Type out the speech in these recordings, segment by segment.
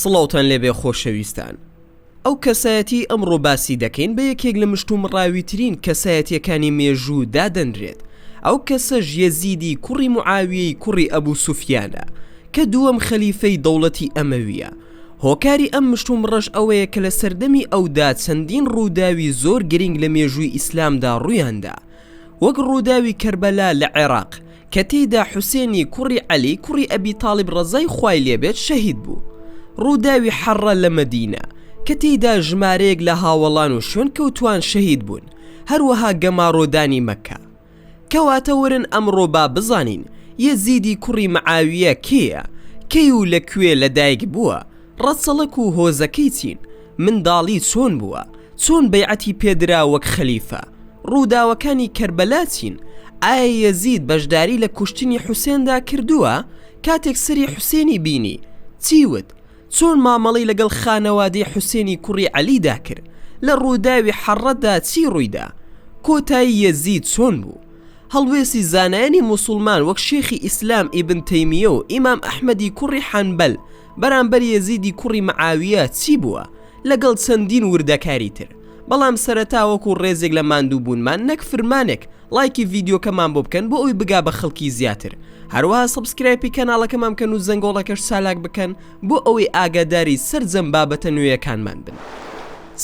سڵاوتان لێبێ خۆشەویستان ئەو کەسایەتی ئەمڕۆ باسی دەکەین بە یەکێک لە مشتوم ڕاویترین کەسایەتیەکانی مێژوو دادەنرێت ئەو کەسە ژیەزیدی کوڕی معاویەی کوڕی ئەبوو سوفیانە کە دووەم خەلیفەی دەوڵەتی ئەمەویە هۆکاری ئەم مشتومڕەش ئەوەیە کە لە سەردەمی ئەودا چەندین ڕووداوی زۆر گرینگ لە مێژووی ئیسلامدا ڕوویاندا وەک ڕووداوی کەربەلا لە عێراق کە تێیدا حوسێنی کوڕی عەلی کوڕی ئەبی تاڵیب ڕەزای خوای لێ بێت شەهید بوو ڕووداوی حەڕە لە مەدینە کە تێیدا ژمارەیەک لە هاوەڵان و شوێنکەوتووان شەهید بوون هەروەها گەماڕۆدانی مەککە کەواتە وەرن ئەمڕۆ با بزانین یەزیدی کوڕی معاویە کێیە کەی و لە کوێ لە دایک بووە ڕەچەڵەک و هۆزەکەی چین منداڵی چۆن بووە چۆن بەیعەتی پێدرا وەک خەلیفە ڕووداوەکانی کەربەلا چین ئایا یەزید بەشداری لە کوشتنی حوسێندا کردووە کاتێک سەری حوسێنی بینی چی وت چۆن مامەڵەی لەگەڵ خانەوادەی حوسێنی کوڕی عەلیدا کرد؟ لە ڕووداوی حەڕڕەدا چی ڕوویدا؟ کۆتایی یەزید چۆن بوو؟ هەڵوێستی زانایانی موسوڵمان وەک شێخی ئیسلام ئیبن تەیمیە و ئیمام ئەحمەدی کوڕی حەنبەل بەرامبەر یەزیدی کوڕی معاویە چی بووە؟ لەگەڵ چەندین وردەکاری تر. بەڵام سەرەتا وەکو ڕێزێک لە ماندووبوونمان نەک فرمانێک ڵایکی ڤیدیۆکەمان بۆ بکەن بۆ ئەوی بگا بە خەڵکی زیاتر هەروەها سبسکرایپی کەناڵەکەمان بکەن و زەنگۆڵەکەش چالاک بکەن بۆ ئەوەی ئاگاداری سەرجەم بابەتە نوێیەکانمان بن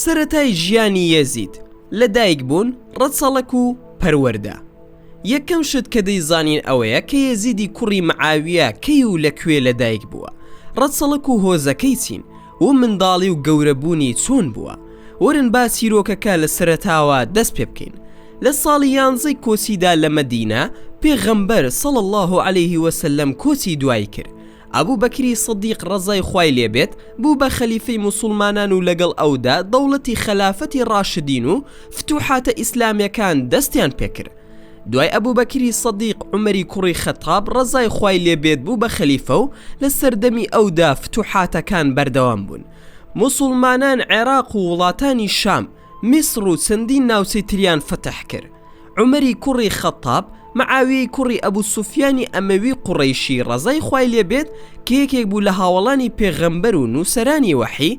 سەرەتای ژیانی یەزید لە دایک بوون ڕەچەڵەک و پەروەردە یەکەم شت کە دەیزانین ئەوەیە کە یەزیدی کوڕی معاویە کەی و لە کوێ لە دایک بووە ڕەچەڵەک و هۆزەکەی چین و منداڵی و گەورەبوونی چۆن بووە ورن با چیرۆکەکە لە سەرەتاوە دەست پێ بکەین لە ساڵی یانزەی کۆچیدا لە مەدینە پێغەمبەر صلی اللە علیه وسلم کۆچی دوایی کرد ئەبو بەکری صدیق ڕەزای خوای لێ بێت بوو بە خەلیفەی موسڵمانان و لەگەڵ ئەودا دەوڵەتی خەلافەتی ڕاشدین و فتوحاتە ئیسلامیەکان دەستیان پێ کرد دوای ئەبوبەکری سەدیق عومەری کوڕی خەتاب ڕەزای خوای لێ بێت بوو بە خەلیفە و لە سەردەمی ئەودا فتوحاتەکان بەردەوام بوون موسوڵمانان عێراق و وڵاتانی شام میسڕ و چەندین ناوچەی تریان فەتح کرد عومەری کوڕی خەتاب معاویەی کوڕی ئەبو سوفیانی ئەمەوی قوڕەیشی ڕەزای خوای لێ بێت کە یەکێک بوو لە هاوەڵانی پێغەمبەر و نووسەرانی وەحی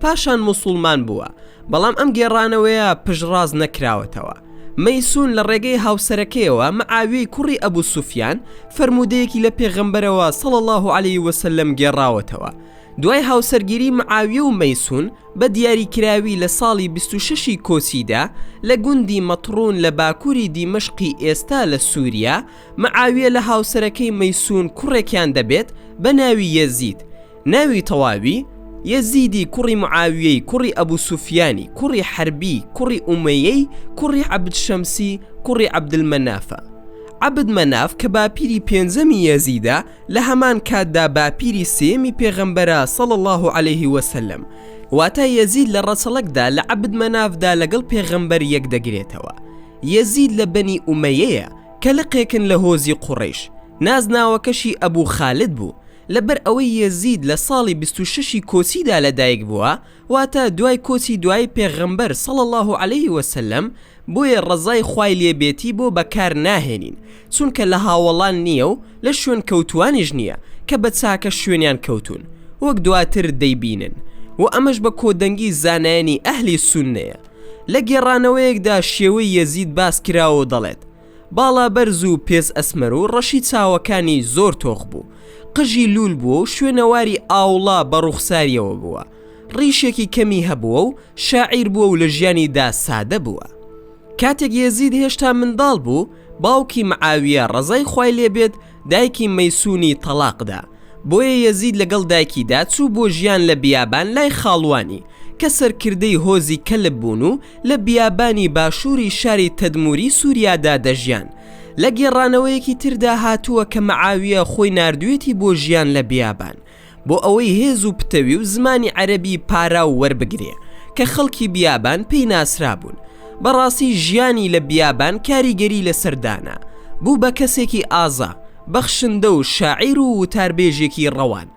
پاشان موسوڵمان بووە، بەڵام ئەم گێڕانەوەیە پشتڕاست نەکراوەتەوە. مەیسون لە ڕێگەی هاوسەرەکەیەوە مەعاویەی کوڕی ئەبو سوفیان فەرموودەیەکی لە پێغەمبەرەوە، صلی اللە علیە وسلم، گێڕاوەتەوە. دوای هاوسەرگیری مەعاویە و مەیسون بە دیاریکراوی لە ساڵی بیست و شەش ی کۆچیدا لە گوندی مەتڕون لە باکووری دیمەشقی ئێستا لە سوریا، مەعاویە لە هاوسەرەکەی مەیسون کوڕێکیان دەبێت بە ناوی یەزید، ناوی تەواوی، یەزیدی کوڕی معاویەی کوڕی ئەبو سوفیانی کوڕی حەربی کوڕی ئومەیەی کوڕی عەبد شەمسی کوڕی عەبدلمەنافە. عەبد مەناف کە باپیری پێنجەمی یەزیدە لە هەمان کاتدا باپیری سێیەمی پێغەمبەرە صلی اللە علیە وسلم. واتە یەزید لە ڕەچەڵەکدا لە عەبد مەنافدا لەگەڵ پێغەمبەر یەک دەگرێتەوە. یەزید لە بەنی ئومەیەیە کە لقێکن لە هۆزی قوڕەیش. نازناوەکەشی ئەبو خالد بوو. لەبەر ئەوەی یەزید لە ساڵی بیست و شەشی کۆچیدا لە دایک بووە واتە دوای کۆچی دوایی پێغەمبەر صلی اللە علیه وسلم بۆیە ڕەزای خوای لێ بێتی بۆ بەکار ناهێنین چونکە لە هاوەڵان نییە و لە شوێنکەوتووانیش نییە کە بە چاکە شوێنیان کەوتوون وەک دواتر دەیبینن و ئەمەش بە کۆدەنگی زانایانی ئەهلی سوننەیە لە گێڕانەوەیەکدا شێوەی یەزید باس کراوە و دەڵێت باڵا بەرز و پێز ئەسمەر و ڕەشی چاوەکانی زۆر تۆخ بوو قژی لوول بووە و شوێنەواری ئاوڵا بە ڕووخساریەوە بووە ڕیشێکی کەمی هەبووە و شاعیر بووە و لە ژیانی دا سادە بووە کاتێک یەزید هێشتا منداڵ بوو باوکی معاویە ڕەزای خوای لێ بێت دایکی مەیسونی تەڵاق دا، بۆیە یەزید لەگەڵ دایکیدا چوو بۆ ژیان لە بیابان لای خاڵوانی، کە سەرکردەی هۆزی کەلب بوون و لە بیابانی باشووری شاری تەدموری سوریادا دەژیان. لە گێڕانەوەیەکی تردا هاتووە کە مەعاویە خۆی ناردویەتی بۆ ژیان لە بیابان، بۆ ئەوەی هێز و پتەوی و زمانی عەرەبی پاراو وەربگرێ کە خەڵکی بیابان پێی ناسرابوون بەڕاستی ژیانی لە بیابان کاریگەری لەسەر دانا بوو بە کەسێکی ئازا بەخشندە و شاعیر و وتاربێژێکی ڕەوان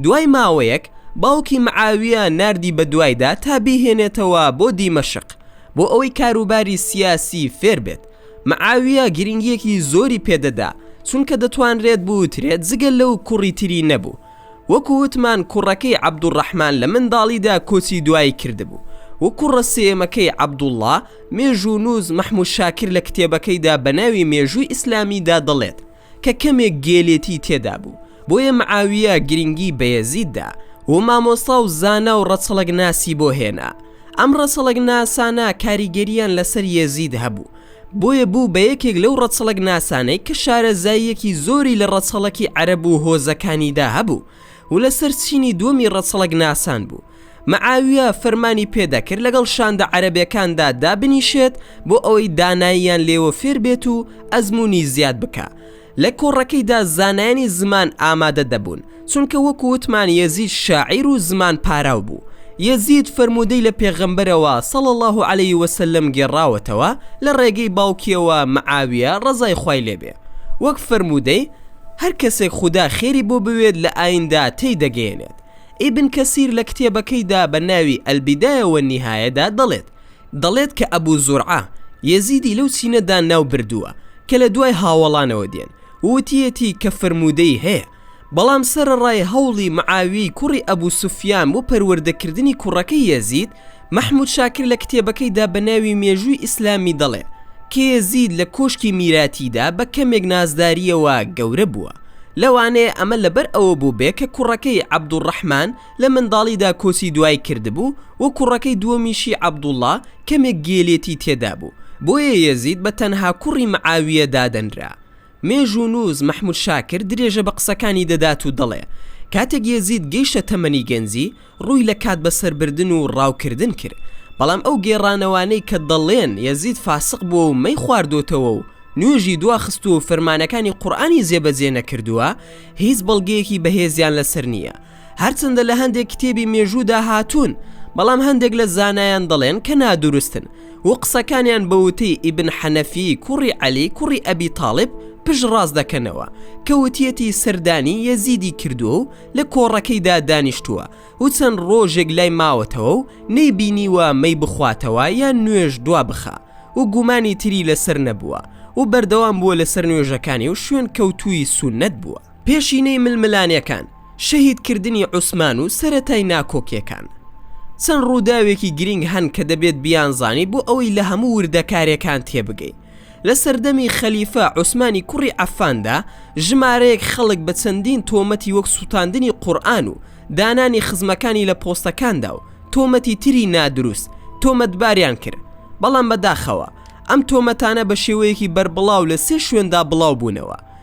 دوای ماوەیەک باوکی معاویە ناردی بە دوایدا تا بیهێنێتەوە بۆ دیمەشق بۆ ئەوەی کاروباری سیاسی فێر بێت معاویە گرنگیەکی زۆری پێدەدا چونکە دەتوانرێت بوترێت جگە لەو کوڕی تری نەبوو وەکو وتمان کوڕەکەی عەبدولڕەحمان لە منداڵیدا کۆچی دوایی کردبوو و کوڕە سێیەمەکەی عەبدوڵڵا مێژوونوس مەحمود شاکر لە کتێبەکەیدا بەناوی مێژووی ئیسلامیدا دەڵێت کە کەمێک گێلێتی تێدا بوو بۆیە معاویە گرنگی بە یەزید دا و مامۆستا و زانا و ڕەچەڵەک ناسی بۆ هێنا ئەم ڕەچەڵەک ناسانە کاریگەریان لەسەر یەزید هەبوو بۆیە بوو بە یەکێک لەو ڕەچەڵەک ناسانەی کە شارەزاییەکی زۆری لە ڕەچەڵەکی عەرەب و هۆزەکانیدا هەبوو و لەسەر چینی دووەمی ڕەچەڵەک ناسان بوو معاویە فەرمانی پێدا کرد لەگەڵ شاندە عەرەبەکاندا دابنیشێت بۆ ئەوەی داناییان لێوە فێر بێت و ئەزموونی زیاد بکا لە کۆڕەکەیدا زانایانی زمان ئامادە دەبوون چونکە وەکو وتمان یەزید شاعیر و زمان پاراو بوو یەزید فەرموودەی لە پێغەمبەرەوە صلی اللە علیە وسلم گێڕاوەتەوە لە ڕێگەی باوکیەوە معاویە ڕەزای خوای لێ بێ وەک فەرموودەی هەر کەسێک خودا خێری بۆ بوێت لە ئاییندا تێی دەگەیەنێت ئیبن کەسیر لە کتێبەکەیدا بە ناوی البدایە و النهایە دا دەڵێت دەڵێت کە ئەبو زورعە یەزیدی لەو چینەدا ناو بردووە کە لە دوای هاوەڵانەوە دێن و وتیەتی کە فرموودەی هەیە بەڵام سەرەڕای هەوڵی معاویەی کوڕی ئەبو سوفیان بۆ پەروەردە کردنی کوڕەکەی یەزید مەحمود شاکر لە کتێبەکەیدا بە ناوی مێژووی ئیسلامی دەڵێ کە یەزید لە کۆشکی میراتیدا بە کەمێک نازدارییەوە گەورە بووە، لەوانەیە ئەمە لەبەر ئەوە بووبێ کە کوڕەکەی عەبدولڕەحمان لە منداڵیدا کۆچی دوایی کردبوو و کوڕەکەی دووەمیشی عەبدوڵڵا کەمێک گێلێتی تێدا بوو، بۆیە یەزید بە تەنها کوڕی معاویە دادەنرا. مێژوونووس مەحموود شاکر درێژە بە قسەکانی دەدات و دەڵێ، کاتێک یەزید گەیشتە تەمەنی گەنجی، ڕووی لە کات بەسەربردن و ڕاوکردن کرد، بەڵام ئەو گێڕانەوانەی کە دەڵێن یەزید فاسق بووە و مەی خواردۆتەوە و نوێژی دواخستووە و فەرمانەکانی قورئانی جێبەجێ نەکردووە، هیچ بەڵگەیەکی بەهێزیان لەسەر نییە. هەرچەندە لە هەندێک کتێبی مێژوودا هاتوون بەڵام هەندێک لە زانایان دەڵێن کە نادروستن و قسەکانیان بە وتەی ئیبن حەنەفی کوڕی عەلی کوڕی ئەبی تاالب پشت ڕاست دەکەنەوە کە وتیەتی سەردانی یەزیدی کردووە و لە کۆڕەکەیدا دانیشتووە و چەند ڕۆژێک لای ماوەتەوە و نەی بینیوە مەی بخواتەوە یان نوێژ دوا بخە و گومانی تری لەسەر نەبووە و بەردەوام بووە لەسەر نوێژەکانی و شوێن کەوتووی سونەت بووە پێشینەی ململانێکان، شەهیدکردنی عوسمان و سەرەتای ناکۆکیەکان. چەند ڕووداوێکی گرینگ هەن کە دەبێت بیانزانی بۆ ئەوەی لە هەموو وردەکارێکان تێبگەین. لە سەردەمی خەلیفە عوسمانی کوڕی عەفاندا ژمارەیەک خەڵک بە چەندین تۆمەتی وەک سوتاندنی قورئان و دانانی خزمەکانی لە پۆستەکاندا و تۆمەتی تری نادروست تۆمەتباریان کرد بەڵام بەداخەوە ئەم تۆمەتانە بە شێوەیەکی بەربڵاو لە سێ شوێندا بڵاو بوونەوە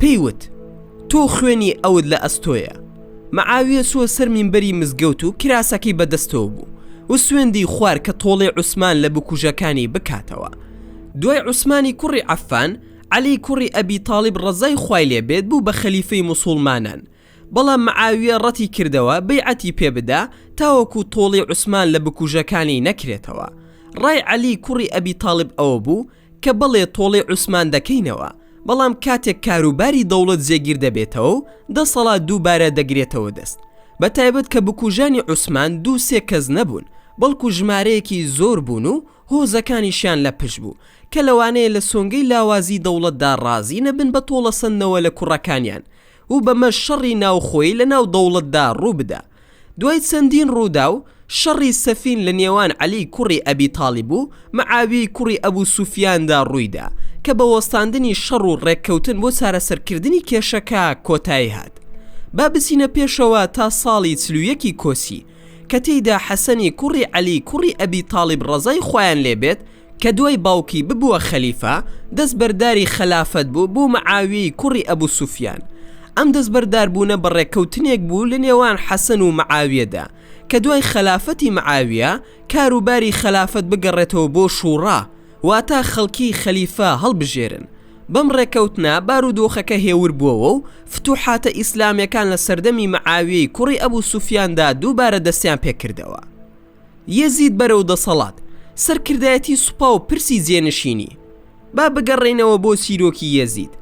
پێی وت، تۆ خوێنی ئەوت لە ئەستۆیە. معاویە چووە سەر مینبەری مزگەوت و کراسەکەی بە دەستەوە بوو و سوێندی خوارد کە تۆڵەی عوسمان لە بکوژەکانی بکاتەوە. دوای عوسمانی کوڕی عەفان، عەلی کوڕی ئەبی تاڵیب ڕەزای خوای لێ بێت بوو بە خەلیفەی موسوڵمانان، بەڵام معاویە ڕەتی کردەوە بەیعەتی پێ بدا تاوەکوو تۆڵەی عوسمان لە بکوژەکانی نەکرێتەوە. ڕای عەلی کوڕی ئەبی تاڵیب ئەوە بوو، کە بەڵێ تۆڵەی عوسمان دەکەینەوە، بەڵام کاتێک کاروباری دەوڵەت جێگیر دەبێتەوە و دەسەڵات دووبارە دەگرێتەوە دەست، بە تایبەت کە بکوژانی عوسمان دوو سێ کەس نەبوون، بەڵکو ژمارەیەکی زۆر بوون و هۆزەکانیشیان لە پشت بوو، کە لەوانەیە لە سۆنگەی لاوازی دەوڵەتدا ڕازی نەبن بە تۆڵەسەندنەوە لە کوڕەکانیان و بەمەش شەڕی ناوخۆیی لەناو دەوڵەتدا ڕووبدا. دوای چەندین ڕووداو، شەڕی سەفین لە نێوان عەلیی کوڕی ئەبی تاڵیب و مەعاویەی کوڕی ئەبوو سوفیاندا ڕووی دا، کە بە وەستاندنی شەڕ و ڕێککەوتن بۆ چارەسەرکردنی کێشەکە کۆتایی هات. با بچینە پێشەوە تا ساڵی چل و یەکی کۆچی، کە تێیدا حەسەنی کوڕی عەلیی کوڕی ئەبی تاڵیب ڕەزای خوایان لێ بێت، کە دوای باوکی ببووە خەلیفە دەست بەرداری خەلافەت بوو بۆ معاویەی کوڕی ئەبو سوفیان ئەم دەست بەردار بوونە بە ڕێککەوتنێک بوو لە نێوان حەسەن و معاویەدا کە دوای خەلافەتی معاویە کار و باری خەلافەت بگەڕێتەوە بۆ شوڕا واتا خەڵکی خەلیفە هەڵبژێرن بەم ڕێککەوتنە بارودۆخەکە هێور بووەوە و فتوحاتە ئیسلامیەکان لە سەردەمی معاویەی کوڕی ئەبو سوفیاندا دووبارە دەستیان پێکردەوە. یەزید بەرەو دەسەڵات، سەرکردایەتی سوپا و پرسی جێنشینی. با بگەڕێینەوە بۆ چیرۆکی یەزید،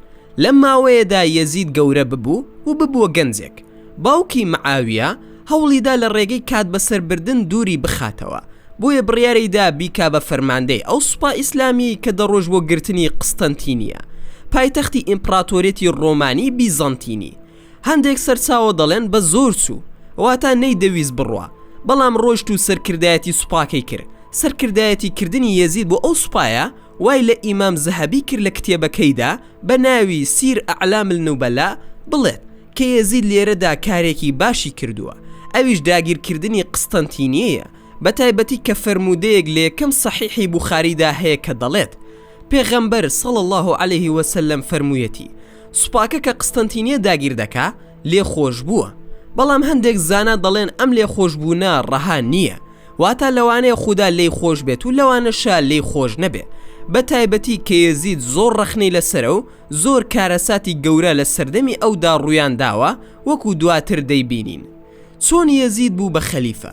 لەم ماوەیەدا یەزید گەورە ببوو و ببووە گەنجێک، باوکی، معاویە، هەوڵیدا لە ڕێگەی کاتبەسەربردن دووری بخاتەوە، بۆیە بڕیاریدا بیکا بە فەرماندەی ئەو سوپا ئیسلامییەی کە دەڕۆیشت بۆ گرتنی قستەنتینیە، پایتەختی ئیمپڕاتۆریەتی ڕۆمانی بیزەنتینی. هەندێک سەرچاوە دەڵێن بە زۆر چوو واتا نەیدەویست بڕوا بەڵام ڕۆشت و سەرکردایەتی سوپاکەی کرد سەرکردایەتی کردنی یەزید بۆ ئەو سوپایە وای لە ئیمام زەهەبی کرد لە کتێبەکەیدا بە ناوی سیر اعلام النوبلاء بڵێت کە یەزید لێرەدا کارێکی باشی کردووە ئەویش داگیرکردنی قستەنتینیەیە بەتایبەتی کە فەرموودەیەک لە یەکەم سەحیحی بوخاریدا هەیە کە دەڵێت پێغەمبەر، صلی اللە علیە وسلم، فەرموویەتی، سوپاکە کە قستەنتینیە داگیر دەکا لێخۆشبووە، بەڵام هەندێک زانا دەڵێن ئەم لێخۆشبوونە ڕەها نییە، واتە لەوانەیە خودا لێی خۆش بێت و لەوانەشە لێی خۆش نەبێ، بەتایبەتی کە یەزید زۆر ڕەخنەی لەسەرە و زۆر کارەساتی گەورە لە سەردەمی ئەودا ڕوویانداوە وەکو دواتر دەیبینین. چۆن یەزید بوو بە خەلیفە؟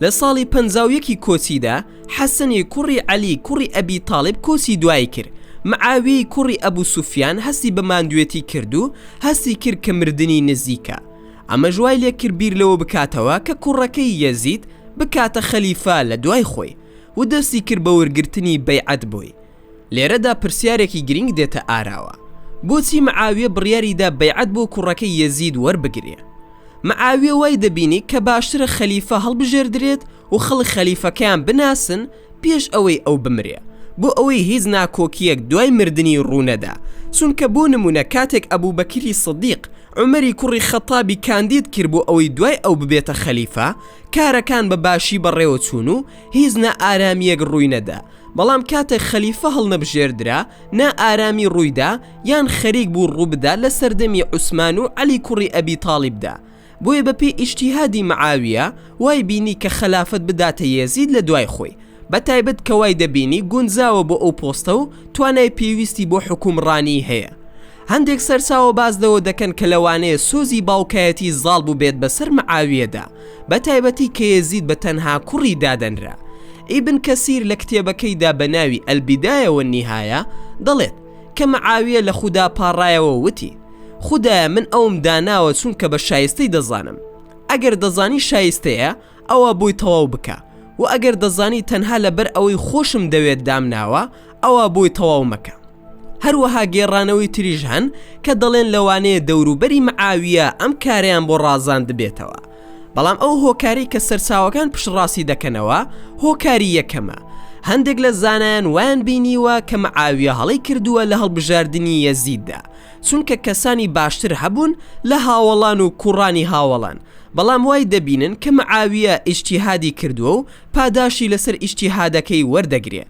لە ساڵی پەنجا و یەکی کۆچیدا حەسەنی کوڕی عەلی کوڕی ئەبی تاڵیب کۆچی دوایی کرد، معاویەی کوڕی ئەبو سوفیان هەستی بە ماندوێتی کرد و هەستی کرد کە مردنی نزیکە، ئەمەش وای لێ کرد بیر لەوە بکاتەوە کە کوڕەکەی یەزید بکاتە خەلیفە لە دوای خۆی و دەستی کرد بە وەرگرتنی بەیعەت بۆی، لێرەدا پرسیارێکی گرینگ دێتە ئاراوە، بۆچی معاویە بڕیاری دا بەیعەت بۆ کوڕەکەی یەزید وەربگرێ؟ معاویە وای دەبینی کە باشترە خەلیفە هەڵبژێردرێت و خەڵک خەلیفەکەیان بناسن پێش ئەوەی ئەو بمرێ بۆ ئەوەی هیچ ناکۆکییەک دوای مردنی ڕوو نەدا چونکە بۆ نموونە کاتێک ئەبوبەکری سدیق عومەری کوڕی خەتابی کاندید کرد بۆ ئەوەی دوای ئەو ببێتە خەلیفە کارەکان بە باشی بەڕێوە چوون و هیچ نا ئارامیەک ڕووی نەدا بەڵام کاتێک خەلیفە هەڵنەبژێردرا نا ئارامی ڕوویدا یان خەریک بوو ڕووبدا لە سەردەمی عوسمان و عەلی کوڕی ئەبی تاڵیبدا بۆیە بە پێی ئیجتیهادی معاویە وای بینی کە خەلافەت بداتە یەزید لە دوای خۆی بە تایبەت کە وای دەبینی گونجاوە بۆ ئەو پۆستە و توانای پێویستی بۆ حوکومڕانی هەیە هەندێک سەرچاوە باس لەوە دەکەن کە لەوانەیە سۆزی باوکایەتی زاڵ بووبێت بەسەر معاویەدا، بەتایبەتی کە یەزید بە تەنها کوڕی دادەنرا. ئیبن کەسیر لە کتێبەکەیدا بە ناوی البدایە والنهایە دەڵێت، کە معاویە لە خودا پاڕایەوە وتی، خودایە من ئەوم داناوە چونکە بە شایستەی دەزانم، ئەگەر دەزانی شایستەیە ئەوا بۆی تەواو بکە، وە ئەگەر دەزانی تەنها لەبەر ئەوەی خۆشم دەوێت دامناوە ئەوا بۆی تەواو مەکە. هەروەها گێڕانەوەی تریش هەن کە دەڵێن لەوانەیە دەوروبەری معاویە ئەم کارەیان بۆ ڕازاندبێتەوە بەڵام ئەو هۆکاری کە سەرچاوەکان پشڕاستی دەکەنەوە هۆکاری یەکەمە هەندێک لە زانایان وایان بینیوە کە معاویە هەڵی کردووە لە هەڵبژاردننی یەزیددا چونکە کەسانی باشتر هەبوون لە هاوەڵان و کوڕانی هاوەڵان بەڵام وای دەبینن کە معاویە ئیشتیهادی کردووە و پاداشی لەسەر ئیشتیهادەکەی وەردەگرێ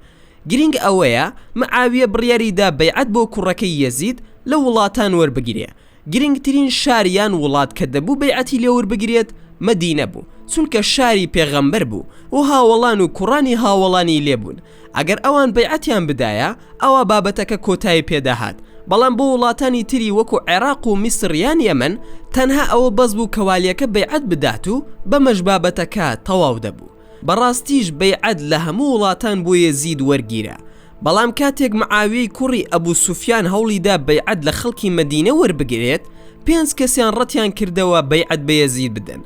گرینگ ئەوەیە معاویە بڕیاری دا بەیعەت بۆ کوڕەکەی یەزید لە وڵاتان وەربگرێ گرینگترین شار یان وڵات کە دەبوو بەیعەتی لێوەربگرێت مەدینە بوو چونکە شاری پێغەمبەر بوو و هاوەڵان و کوڕانی هاوەڵانی لێ بوون ئەگەر ئەوان بەیعەتیان بدایە ئەوا بابەتەکە کۆتایی پێ دەهات بەڵام بۆ وڵاتانی تری وەکو عێراق و میسر یان یەمەن تەنها ئەوە بەس بوو کە والیەکە بەیعەت بدات و بەمەش بابەتەکە تەواو دەبوو. بەڕاستیش بەیعەت لە هەموو وڵاتان بۆ یەزید وەرگیرا، بەڵام کاتێک معاویەی کوڕی ئەبو سوفیان هەوڵیدا بەیعەت لە خەڵکی مەدینە وەربگرێت پێنج کەسیان ڕەتیان کردەوە بەیعەت بە یەزید بدەن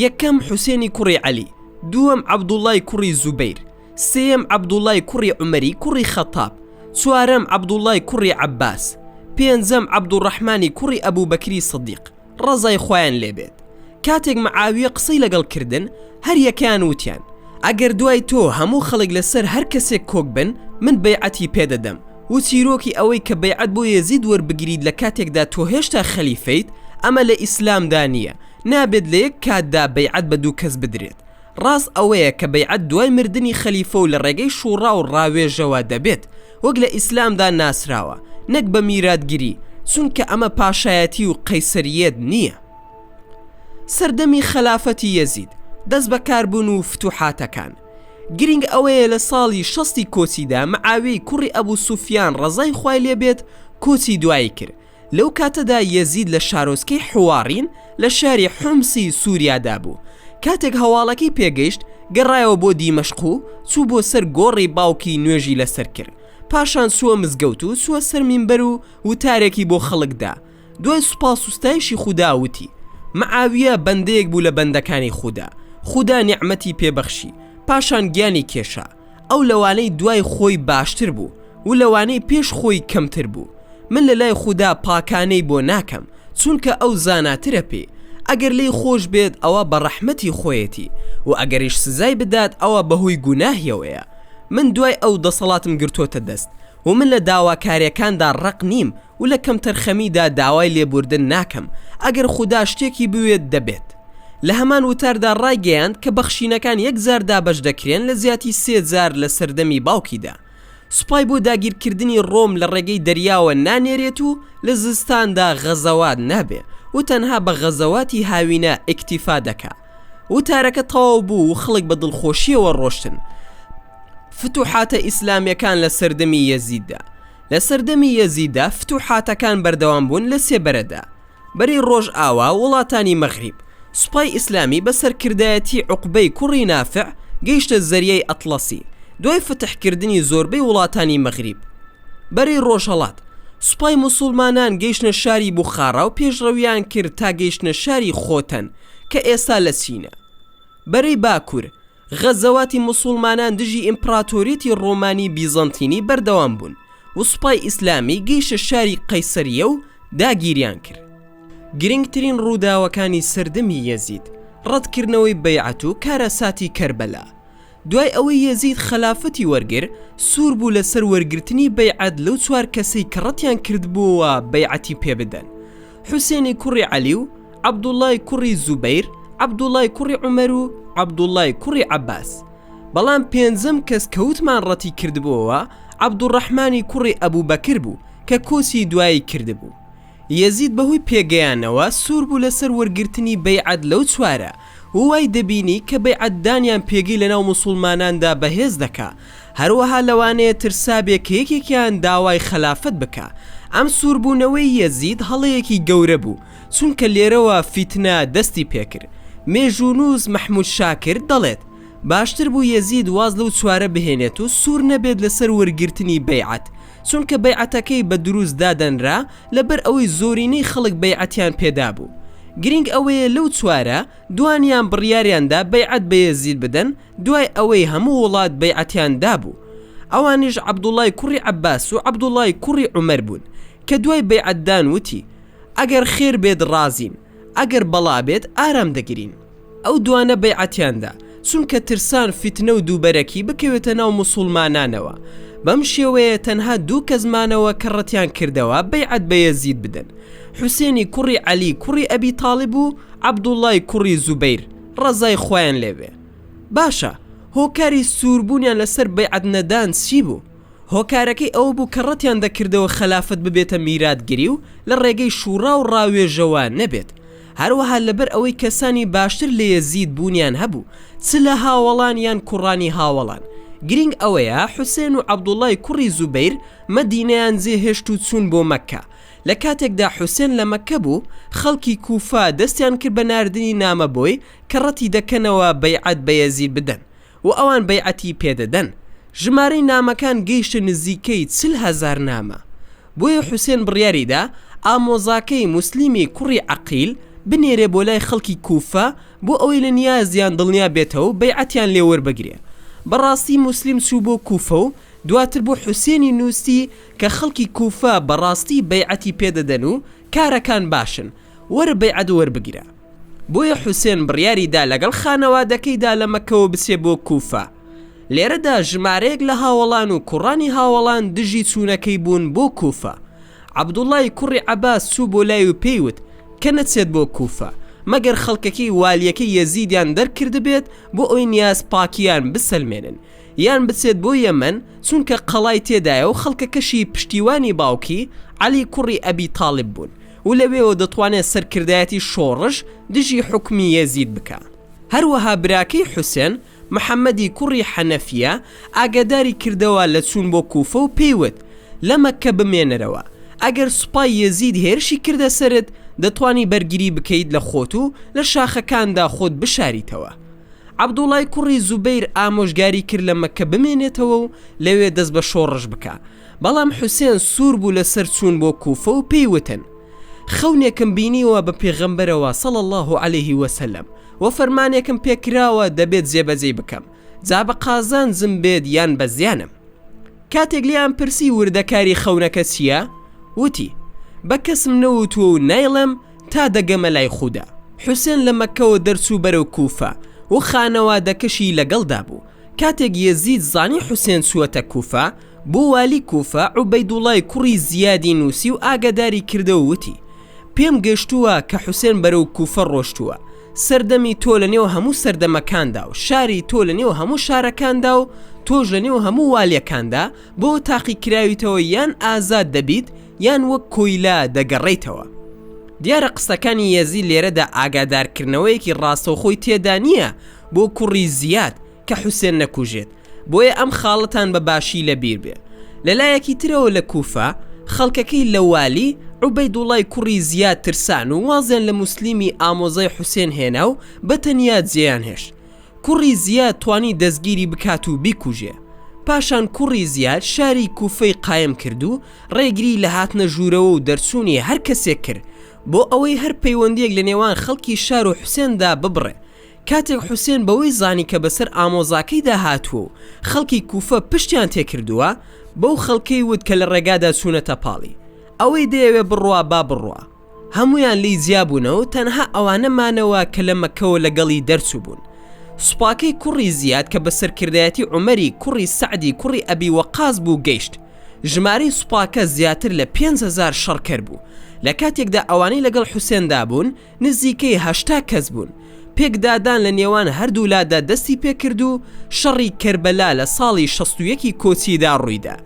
یەکەم حوسێنی کوڕی عەلی دووەم عەبدوڵای کوڕی زوبەیر سێیەم عەبدوڵای کوڕی عومەری کوڕی خەتاب چوارەم عەبدوڵای کوڕی عەباس پێنجەم عەبدوڕەحمانی کوڕی ئەبو بەکری سدیق ڕەزای خوایان لێ بێت کاتێک معاویە قسەی لەگەڵ کردن هەر یەکەیان وتیان ئەگەر دوای تۆ هەموو خەڵک لەسەر هەر کەسێک کۆک بن من بەیعەتی پێ دەدەم و چیرۆکی ئەوەی کە بەیعەت بۆ یەزید وەربگریت لە کاتێکدا تۆ هێشتا خەلیفەیت ئەمە لە ئیسلامدا نییە نابێت لە یەک کاتدا بەیعەت بە دوو کەس بدرێت ڕاست ئەوەیە کە بەیعەت دوای مردنی خەلیفە و لە ڕێگەی شووڕا و ڕاوێژەوە دەبێت وەک لە ئیسلامدا ناسراوە نەک بە میراتگری چونکە ئەمە پاشایەتی و قەیسەرییەت نییە سەردەمی خەلافەتی یەزید دەست بەکاربوون و فتوحاتەکان گرینگ ئەوەیە لە ساڵی شەستی کۆچیدا معاویەی کوڕی ئەبوو سوفیان ڕەزای خوای لێبێت کۆچی دوایی کرد لەو کاتەدا یەزید لە شارۆچکەی حوواڕین لە شاری حومسی سووریادا بوو، کاتێک هەواڵەکەی پێگەیشت گەڕایەوە بۆ دیمەشق و چوو بۆ سەر گۆڕی باوکی نوێژی لەسەر کرد، پاشان چووە مزگەوت و چووە سەر مینبەر و وتارێکی بۆ خەڵک دا، دوای سوپاس و ستایشی خودا وتی، معاویە بەندەیەک بوو لە بەندەکانی خودا، خودا نیعمەتی پێ بەخشی، پاشان گیانی کێشا. ئەو لەوانەی دوای خۆی باشتر بوو و لەوانەی پێش خۆی کەمتر بوو من لە لای خودا پاکانەی بۆ ناکەم چونکە ئەو زاناترە پێ ئەگەر لێی خۆش بێت ئەوە بە ڕەحمەتی خۆیەتی و ئەگەریش سزای بدات ئەوە بەهۆی گوناهیەوەیە من دوای ئەو دەسەڵاتم گرتۆتە دەست و من لە داواکاریەکاندا ڕەق نیم و لە کەمتەرخەمیدا داوای لێبووردن ناکەم، ئەگەر خودا شتێکی بوێت دەبێت. لە هەمان وتاردا ڕایگەیاند کە بەخشینەکان یەک جار دابەش دەکرێن لە زیاتی سێ جار لە سەردەمی باوکیدا. سوپای بۆ داگیرکردنی ڕۆم لە ڕێگەی دەریاوە نانێرێت و لە زستاندا غەزەوات نابێ و تەنها بە غەزەواتی هاوینە ئیکتیفا دەکا. وتارەکە تەواو بوو و خەڵک بە دڵخۆشییەوە ڕۆشتن. فتوحاتە ئیسلامیەکان لە سەردەمی یەزیددا لە سەردەمی یەزیددا فتوحاتەکان بەردەوام بوون لە سێ بەرەدا، بەری ڕۆژئاوا، وڵاتانی مەغریب. سوپای ئیسلامی بە سەرکردایەتی عوقبەی کوڕی نافع گەیشتە زەریای ئەتڵەسی، دوای فتحکردنی زۆربەی وڵاتانی مەغریب. بەری ڕۆژهەڵات، سوپای موسوڵمانان گەیشتنە شاری بوخاڕا و پێشڕەویان کرد تا گەیشتنە شاری خۆتەن کە ئێستا لە چینە. بەری باکوور. غەزەواتی موسوڵمانان دژی ئیمپڕاتۆریەتی ڕۆمانی بیزەنتینی بەردەوام بوون و سوپای ئیسلامی گەیشتە شاری قەیسەریە و داگیریان کرد. گرنگترین ڕووداوەکانی سەردەمی یەزید، ڕەتکردنەوەی بەیعەت و کارەساتی کەربەلا. دوای ئەوەی یەزید خەلافەتی وەرگر، سوور بوو لەسەر وەرگرتنی بەیعەت لەو چوار کەسەی کە ڕەتیان کردبووەوە بەیعەتی پێبدەن. حوسێنی کوڕی عەلی و عەبدوڵڵای کوڕی زوبەیر، عەبدوڵڵای کوڕی عومەر و عەبدوڵڵای کوڕی عەباس. بەڵام پێنجەم کەس کەوتمان ڕەتی کردبۆوە عەبدوڕەحمانی کوڕی ئەبو بەکر بوو کە کۆچی دوایی کردبوو. یەزید بەهۆی پێگەیانەوە سوور بوو لەسەر وەرگرتنی بەیعەت لەو چوارە و وای دەبینی کە بەیعەت دانیان پێگەی لەناو موسوڵماناندا بەهێز دەکا، هەروەها لەوانەیە ترسابێ کە یەکێکیان داوای خەلافەت بکا. ئەم سووربوونەوەی یەزید هەڵەیەکی گەورە بوو، چونکە لێرەوە فیتنە دەستی پێکرد. مێژوونووس مەحموود شاکر دەڵێت، باشتر بوو یەزید واز لەو چوارە بهێنێت و سوور نەبێت لەسەر وەرگرتنی بەیعەت، چونکە بەیعەتەکەی بە دروست دادەنرا لەبەر ئەوەی زۆرینەی خەڵک بەیعەتیان پێ دابوو. گرینگ ئەوەیە لەو چوارە، دوانیان بڕیاریان دا بەیعەت بە یەزید بدەن، دوای ئەوەی هەموو وڵات بەیعەتیان دابوو، ئەوانیش عەبدوڵڵای کوڕی عەباس و عەبدوڵڵای کوڕی عومەر بوون، کە دوای بەیعەتدان وتی، ئەگەر خێر بێت ڕازین، ئەگەر بەڵا بێت ئارام دەگرین. ئەو دوانە بەیعەتیان دا، چونکە ترسان فیتنە و دووبەرەکی بکەوێتە ناو موسوڵمانانەوە، بەم شێوەیە تەنها دوو کەس مانەوە کە ڕەتیان کردەوە بەیعەت بە یەزید بدەن، حوسێنی کوڕی عەلی کوڕی ئەبی تاڵیب و عەبدوڵڵای کوڕی زوبەیر. ڕەزای خوایان لێبێ باشە هۆکاری سوربونیان لەسەر بەیعەت نەدان چی بوو هۆکارەکەی ئەوە بوو کە ڕەتیان دەکردەوە خەلافەت ببێتە میراتگری و لە ڕێگەی شوڕا و ڕاوێژەوە نەبێت هەروەها لەبەر ئەوەی کەسانی باشتر لە یەزید بونیان هەبوو چ لە هاوەڵان یان کوڕانی هاوەڵان گرینگ ئەوەیە حوسێن و عەبدوڵای کوڕی زوبەیر مەدینەیان جێهێشت و چوون بۆ مەککە لە کاتێکدا حوسێن لە مەککە بوو، خەڵکی کوفە دەستیان کرد بە ناردنی نامە بۆی کە ڕەتی دەکەنەوە بەیعەت بە یەزید بدەن و ئەوان بەیعەتی پێدەدەن. ژمارەی نامەکان گەیشتە نزیکەی چل هەزار نامە. بۆیە حوسێن بڕیاری دا ئامۆزاکەی موسلیمی کوڕی عەقیل بنێرێ بۆ لای خەڵکی کوفە بۆ ئەوەی لە نیازیان دڵنیا بێتەوە و بەیعەتیان لێ وەربگرێ. بەڕاستی موسلیم چوو بۆ کوفە و دواتر بۆ حوسێنی نووستی کە خەڵکی کوفە بەڕاستی بەیعەتی پێ دەدەن و کارەکان باشن، وەرە بەیعەت وەربگرە. بۆیە حوسێن بڕیاری دا لەگەڵ خانەوادەکەیدا لە مەککەوە بچێ بۆ کوفە. لێرەدا ژمارەیەک لە هاوەڵان و کوڕانی هاوەڵان دژی چوونەکەی بوون بۆ کوفە. عەبدوڵڵای کوڕی عەباس چوو بۆ لای و پێی وت کە نەچێت بۆ کوفە، مەگەر خەڵکەکەی والییەکەی یەزیدیان دەرکردبێت بۆ ئەوەی نیاز پاکییان بسەلمێنن، یان بچێت بۆ یەمەن چونکە قەڵای تێدایە و خەڵکەکەشی پشتیوانی باوکی، عەلی کوڕی ئەبی تاڵیب، بوون و لەوێوە دەتوانێت سەرکردایەتی شۆڕش دژی حوکمی یەزید بکا. هەروەها براکەی حوسێن، محەمەدی کوڕی حەنەفیە، ئاگاداری کردەوە لە چوون بۆ کوفە و پێی وت، لە مەککە بمێنەرەوە، ئەگەر سوپای یەزید هێرشی کردە سەرت، دەتوانی بەرگری بکەیت لە خۆت و لە شاخەکاندا خۆت بشاریتەوە. عەبدوڵای کوڕی زوبەیر ئامۆژگاری کرد لە مەککە بمێنێتەوە و لەوێ دەست بە شۆڕش بکا، بەڵام حوسێن سوور بوو لە سەر چوون بۆ کووفە و پێی وتن، خەونێکم بینیوە بە پێغەمبەرەوە صلی اللە علیە وسلم و فەرمانێکم پێ کراوە دەبێت جێبەجێی بکەم جا بە قازانجم بێت یان بە زیانم. کاتێک لێیان پرسی وردەکاری خەونەکە چییە؟ وتی، بە کەسم نەوتووە و نایڵێم، تا دەگەمە لای خودا. حوسێن لە مەککەوە دەرچوو بەرەو کوفە و خانەوادەکەشی لەگەڵدا بوو. کاتێک یەزید زانی حوسێن چووەتە کوفە، بۆ والی کوفە عوبەیدوڵڵای کوڕی زیادی نووسی و ئاگاداری کردەوە وتی، پێم گەشتووە کە حوسێن بەرەو کوفە ڕۆشتووە، سەردەمی تۆ لەنێو هەموو سەردەمەکاندا و شاری تۆ لەنێو هەموو شارەکاندا و تۆش لەنێو هەموو والیەکاندا بەوە تاقیکراویتەوە یان ئازاد دەبیت یان وەک کۆیلە دەگەڕێیتەوە. دیارە قسەکانی یەزی لێرەدا ئاگادارکردنەوەیەکی ڕاستەوخۆی تێدا نییە بۆ کوڕی زیاد کە حوسێن نەکوژێت، بۆیە ئەم خاڵەتان بە باشی لە بیر بێ. لە لایەکی ترەوە لە کووفە خەڵکەکەی لە والی عوبەیدوڵڵای کوڕی زیاد ترسان و وازیان لە موسلیمی ئامۆزای حوسێن هێنا و بە تەنیا جێیان هێشت. کوڕی زیاد توانی دەستگیری بکات و بیکوژێ پاشان کوڕی زیاد شاری کوفەی قایم کرد و ڕێگری لە هاتنە ژوورەوە و دەرچوونی هەر کەسێک کرد بۆ ئەوەی هەر پەیوەندیەک لە نێوان خەڵکی شار و حوسێندا ببڕێ کاتێک حوسێن بەوەی زانی کە بەسەر ئامۆزاکەیدا هاتووە و خەڵکی کوفە پشتیان تێکردووە بەو خەڵکەی وت کە لە ڕێگادا چوونەتە پاڵی ئەوەی دەیەوێ بڕوا با بڕوا هەموویان لێی جیا بوونەوەو تەنها ئەوانە مانەوە کە لە مەککەوە لەگەڵی دەرچووبوون. سوپاکەی کوڕی زیاد کە بە سەرکردایەتی عومەری کوڕی سەعدی کوڕی ئەبی وەقاس بوو گەیشت. ژمارەی سوپاکە زیاتر لە پێنج هەزار شەڕکەر بوو. لە کاتێکدا ئەوانەی لەگەڵ حوسێندا بوون نزیکەی هەشتا کەس بوون. پێکدادان لە نێوان هەردوولادا دەستی پێکرد و شەڕی کەربەلا لە ساڵی شەست و یەکی کۆچیدا ڕوویدا.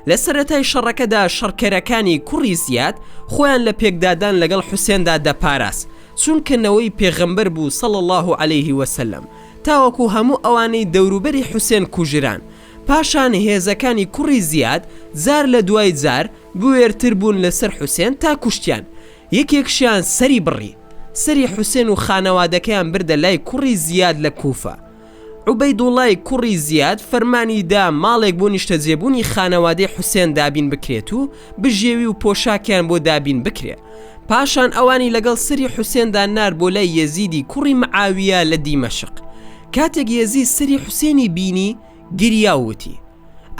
لە سەرەتای شەڕەکەدا شەڕکەرەکانی کوڕی زیاد خۆیان لە پێکدادان لەگەڵ حوسێندا دەپاراست چونکە نەوەی پێغەمبەر بوو صلی اللە علیه وسلم تاوەکو هەموو ئەوانەی دەوروبەری حوسێن کوژران پاشان هێزەکانی کوڕی زیاد جار لە دوای جار بوێرتر بوون لەسەر حوسێن تا کوشتیان یەکێکشیان سەری بڕی سەری حوسێن و خانەوادەکەیان بردە لای کوڕی زیاد لە کوفە عوبەیدوڵای کوڕی زیاد فەرمانی دا ماڵێک بۆ نیشتەجێبوونی خانەوادەی حوسێن دابین بکرێت و بژێوی و پۆشاکیان بۆ دابین بکرێ پاشان ئەوانی لەگەڵ سەری حوسێندا نارد بۆ لای یەزیدی کوڕی معاویە لە دیمەشق کاتێک یەزید سەری حوسێنی بینی گریا و وتی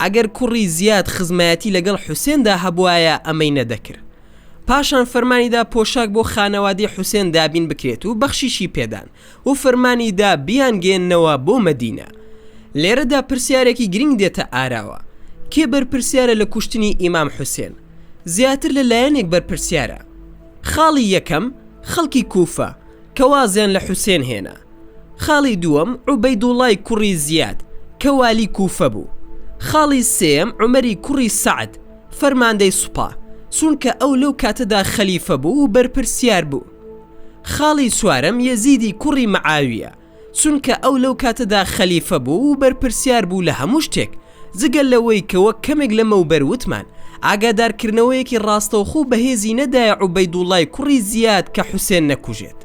ئەگەر کوڕی زیاد خزمایەتی لەگەڵ حوسێندا هەبوایە ئەمەی نەدەکرد پاشان فەرمانی دا پۆشاک بۆ خانەوادەی حوسێن دابین بکرێت و بەخشیشی پێدان و فەرمانی دا بیانگەیەننەوە بۆ مەدینە. لێرەدا پرسیارێکی گرینگ دێتە ئاراوە، کێ بەرپرسیارە لە کوشتنی ئیمام حوسێن؟ زیاتر لە لایەنێک بەرپرسیارە. خاڵی یەکەم، خەڵکی کوفە، کە وازیان لە حوسێن هێنا. خاڵی دووەم، عوبەیدوڵڵای کوڕی زیاد، کە والی کوفە بوو. خاڵی سێیەم، عومەری کوڕی سەعد، فەرماندەی سوپا، چونکە ئەو لەو کاتەدا خەلیفە بوو و بەرپرسیار بوو. خاڵی چوارەم یەزیدی کوڕی معاویە چونکە ئەو لەو کاتەدا خەلیفە بوو و بەرپرسیار بوو لە هەموو شتێک جگە لەوەی کە وەک کەمێک لەمەوبەر وتمان ئاگادارکردنەوەیەکی ڕاستەوخۆ بەهێزی نەدایە عوبەیدوڵای کوڕی زیاد کە حوسێن نەکوژێت.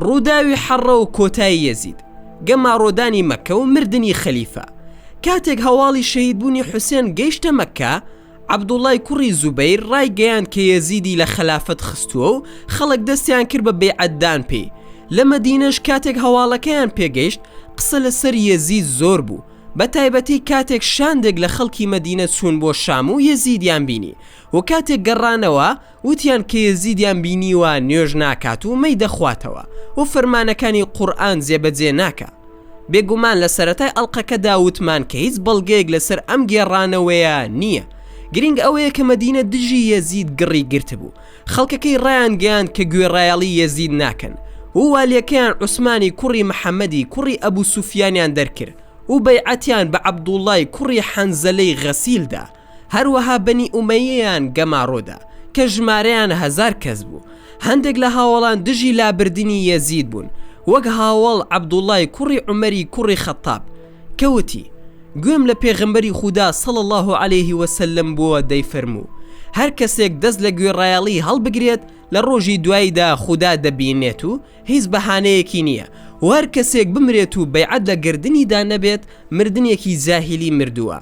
ڕووداوی حەڕە و کۆتای یەزید، گەماڕۆدانی مەککە و مردنی خەلیفە، کاتێک هەواڵی شەهیدبوونی حوسێن گەیشتە مەککە، عەبدوڵڵای کوڕی زوبەیر ڕایگەیاند کە یەزیدی لە خەلافەت خستووە و خەڵک دەستیان کرد بە بەیعەتدان پێی، لە مەدینەش کاتێک هەواڵەکەیان پێگەیشت قسە لەسەر یەزید زۆر بوو، بەتایبەتی کاتێک شاندێک لە خەڵکی مەدینە چوون بۆ شام و یەزیدیان بینی و کاتێک گەڕانەوە، وتیان کە یەزیدیان بینیوە نوێژ ناکات و مەی دەخواتەوە و فەرمانەکانی قورئان جێبەجێ ناکا بێگومان لە سەرەتای ئەڵقەکەدا وتمان کە هیچ بەڵگەیەک لەسەر ئەم گێڕانەوەیە نییە گرینگ ئەوەیە کە مەدینە دژی یەزید گڕی گرتبوو خەڵکەکەی ڕایانگەیاند کە گوێڕایەڵی یەزید ناکەن و والیەکەیان عوسمانی کوڕی محەمەدی کوڕی ئەبو سوفیانیان دەرکرد و بەیعەتیان بە عەبدوڵڵای کوڕی حەنزەلەی غەسیل دا هەروەها بەنی ئومەییەیان گەماڕۆدا کە ژمارەیان هەزار کەس بوو، هەندێک لە هاوەڵان دژی لابردنی یەزید بوون، وەک هاوەڵ عەبدوڵڵای کوڕی عومەری کوڕی خەتتاب کە وتی، گوێم لە پێغەمبەری خودا صلی اللە علیە وسلم بووە دەیفەرموو، هەر کەسێک دەست لە گوێڕایەڵی هەڵبگرێت لە ڕۆژی دواییدا خودا دەبینێت و هیچ بەهانەیەکی نییە، وهەر کەسێک بمرێت و بەیعەت لە گەردنیدا نەبێت مردنێکی جاهیلی مردووە.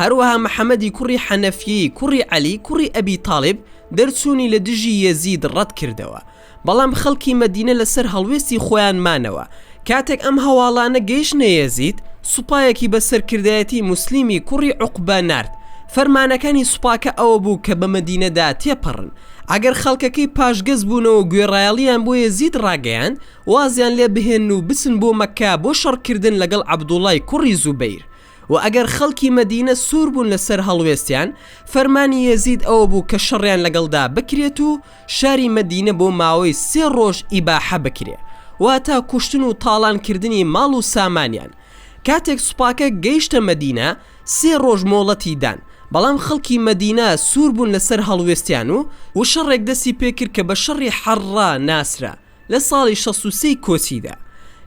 هەروەها محەمەدی کوڕی حەنەفیەی کوڕی عەلی کوڕی ئەبی تاڵیب دەرچوونی لە دژی یەزید ڕەت کردەوە بەڵام خەڵکی مەدینە لەسەر هەڵوێستی خۆیان مانەوە کاتێک ئەم هەواڵانە گەیشتنە یەزید سوپایەکی بە سەرکردایەتی موسلیمی کوڕی عوقبە نارد فەرمانەکانی سوپاکە ئەوە بوو کە بە مەدینەدا تێپەڕن ئەگەر خەڵکەکەی پاشگەز بوونەوە گوێڕایەڵیان بۆ یەزید ڕاگەیاند وازیان لێ بهێنن و بچن بۆ مەککە بۆ شەڕکردن لەگەڵ عەبدوڵای کوڕی زوبەیر وە ئەگەر خەڵکی مەدینە سوور بوون لەسەر هەڵوێستیان، فەرمانی یەزید ئەوە بوو کە شەڕیان لەگەڵدا بکرێت و شاری مەدینە بۆ ماوەی سێ ڕۆژ ئیباحە بکرێ، واتە کوشتن و تاڵان کردنی ماڵ و سامانیان. کاتێک سوپاکە گەیشتە مەدینە، سێ ڕۆژ مۆڵەتی دان، بەڵام خەڵکی مەدینە سوور بوون لەسەر هەڵوێستیان و شەڕێک دەستی پێ کرد کە بە شەڕی حەڕڕا ناسرا، لە ساڵی شەست و سێی کۆچیدا.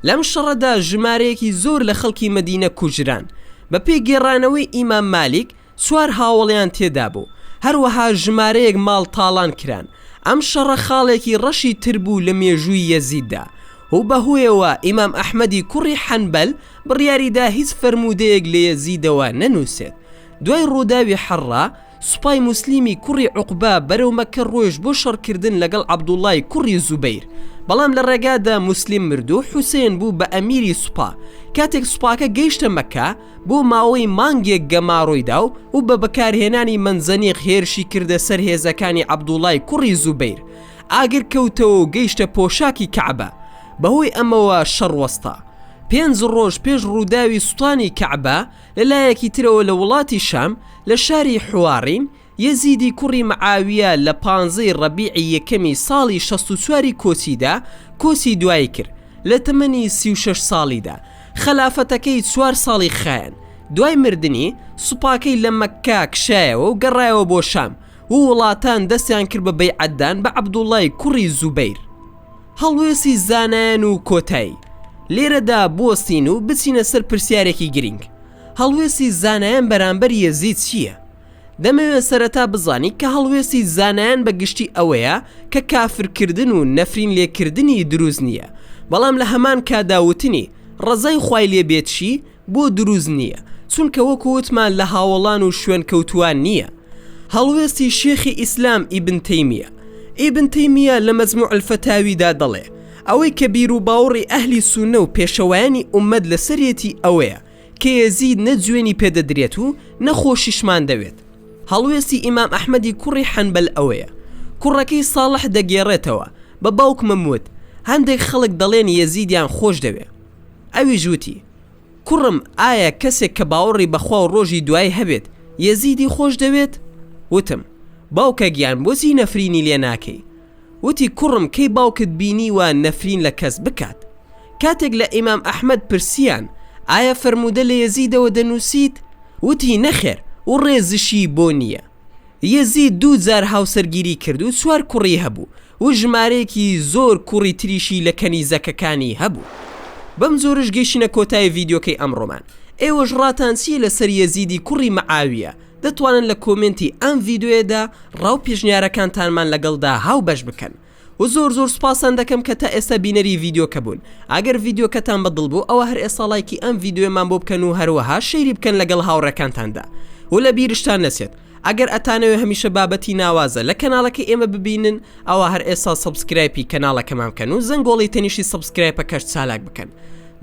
لەم شەڕەدا ژمارەیەکی زۆر لە خەڵکی مەدینە کوژران. بەپێی گێڕانەوەی ئیمام مالیک چوار هاوەڵیان تێدا بوو، هەروەها ژمارەیەک ماڵ تاڵان کران. ئەم شەڕە خاڵێکی ڕەشی تر بوو لە مێژووی یەزیددا و بەهۆیەوە ئیمام ئەحمەدی کوڕی حەنبەل بڕیاریدا هیچ فەرموودەیەک لە یەزیدەوە نەنووسێت دوای ڕووداوی حەڕا، سوپای موسلیمی کوڕی عوقبە بەرەو مەککە ڕۆیشت بۆ شەڕکردن لەگەڵ عەبدوڵڵای کوڕی زوبەیر، بەڵام لە ڕێگادا موسلیم مردو حوسێن بوو بە ئەمیری سوپا، کاتێک سوپاکە گەیشتە مەککە بۆ ماوەی مانگێک گەمارۆی داو و بە بەکارهێنانی مەنجەنیق هێرشی کردە سەر هێزەکانی عەبدوڵای کوڕی زوبەیر ئاگر کەوتەوەو گەیشتە پۆشاکی کەعبە بەهۆی ئەمەوە شەڕ وەستا پێنج ڕۆژ پێش ڕوداوی سوتانی کەعبە لە لایەکی ترەوە لە وڵاتی شام لە شاری حوارین، یەزیدی کوڕی معاویە لە پانزە ی ڕەبیعی یەکەمی ساڵی شەست و چوار ی کۆچیدا کۆچی دوایی کرد، لە تەمەنی سی و شەش ساڵیدا، خەلافەتەکەی چوار ساڵی خایاند، دوای مردنی، سوپاکەی لە مەککە کشایەوە و گەڕایەوە بۆ شام و وڵاتان دەستیان کرد بە بەیعەتدان بە عەبدوڵڵای کوڕی زوبەیر. هەڵوێستی زانایان و کۆتایی لێرەدا بوەستین و بچینە سەر پرسیارێکی گرینگ، هەڵوێستی زانایان بەرامبەر یەزید چییە؟ دەمەوێت سەرەتا بزانین کە هەڵوێستی زانایان بە گشتی ئەوەیە کە کافرکردن و نەفرین لێکردنی دروست نییە، بەڵام لە هەمان کاتدا وتنی، ڕەزای خوای لێ بێتشی بۆ دروست نییە؟ چونکە وەکو وتمان لە هاوەڵان و شوێنکەوتووان نییە. هەڵوێستی شێخی ئیسلام ئیبن تەیمیە ئیبن تەیمیە لە مەجموع الفتاویدا دەڵێ، ئەوەی کە بیروباوڕی ئەهلی سوننە و پێشەوایانی ئوممەت لەسەریەتی ئەوەیە کە یەزید نە جوێنی پێ دەدرێت و نە خۆشیشمان دەوێت. هەڵوێستی ئیمام ئەحمەدی کوڕی حەنبەل ئەوەیە. کوڕەکەی ساڵح دەگێڕێتەوە، بە باوکمم وت، هەندێک خەڵک دەڵێن یەزیدیان خۆش دەوێ. ئەویش وتی، کوڕم ئایا کەسێک کە باوەڕی بە خوا و ڕۆژی دوایی هەبێت یەزیدی خۆش دەوێت؟ وتم، باوکە گیان بۆچی نەفرینی لێ ناکەی؟ وتی، کوڕم کەی باوکت بینیوە نەفرین لە کەس بکات؟ کاتێک لە ئیمام ئەحمەد پرسییان، ئایا فەرموودە لە یەزیدەوە دەنووسیت؟ وتی، نەخێر و ڕێزشی بۆ نییە. یەزید دوو جار هاوسەرگیری کرد و چوار کوڕی هەبوو و ژمارەیەکی زۆر کوڕی تریشی لە کەنیزەکەکانی هەبوو. بەم جۆرەش گەیشتینە کۆتایی ڤیدیۆکەی ئەمڕۆمان. ئێوەش ڕاتان چییە لەسەر یەزیدی کوڕی مەعاویە؟ دەتوانن لە کۆمێنتی ئەم ڤیدیۆیەدا ڕا و پێشنیارەکانتانمان لەگەڵدا هاوبەش بکەن. و زۆر زۆر سوپاستان دەکەم کە تا ئێستا بینەری ڤیدیۆکە بوون ئەگەر ڤیدیۆکەتان بە دڵ بوو ئەوا هەر ئێستا ڵایکی ئەم ڤیدیۆیەمان بۆ بکەن و هەروەها شەیری بکەن لەگەڵ هاوڕێکانتاندا و لە بیرشتان نەچێت ئەگەر ئەتانەوێ هەمیشە بابەتی ناوازە لە کەناڵەکەی ئێمە ببینن ئەوا هەر ئێستا سەبسکرایپی کەناڵەکەمان بکەن و زەنگۆڵی تەنیشی سەبسکرایپەکەش چالاک بکەن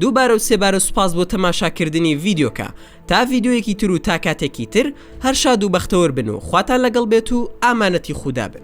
دووبارە و سێبارە سوپاس بۆ تەماشاکردنی ڤیدیۆکە تا ڤیدیۆیەکی تر و تا کاتێکی تر هەر شاد و بەختەوەر بن و خواتان لەگەڵ بێت و ئامانەتی خودا بن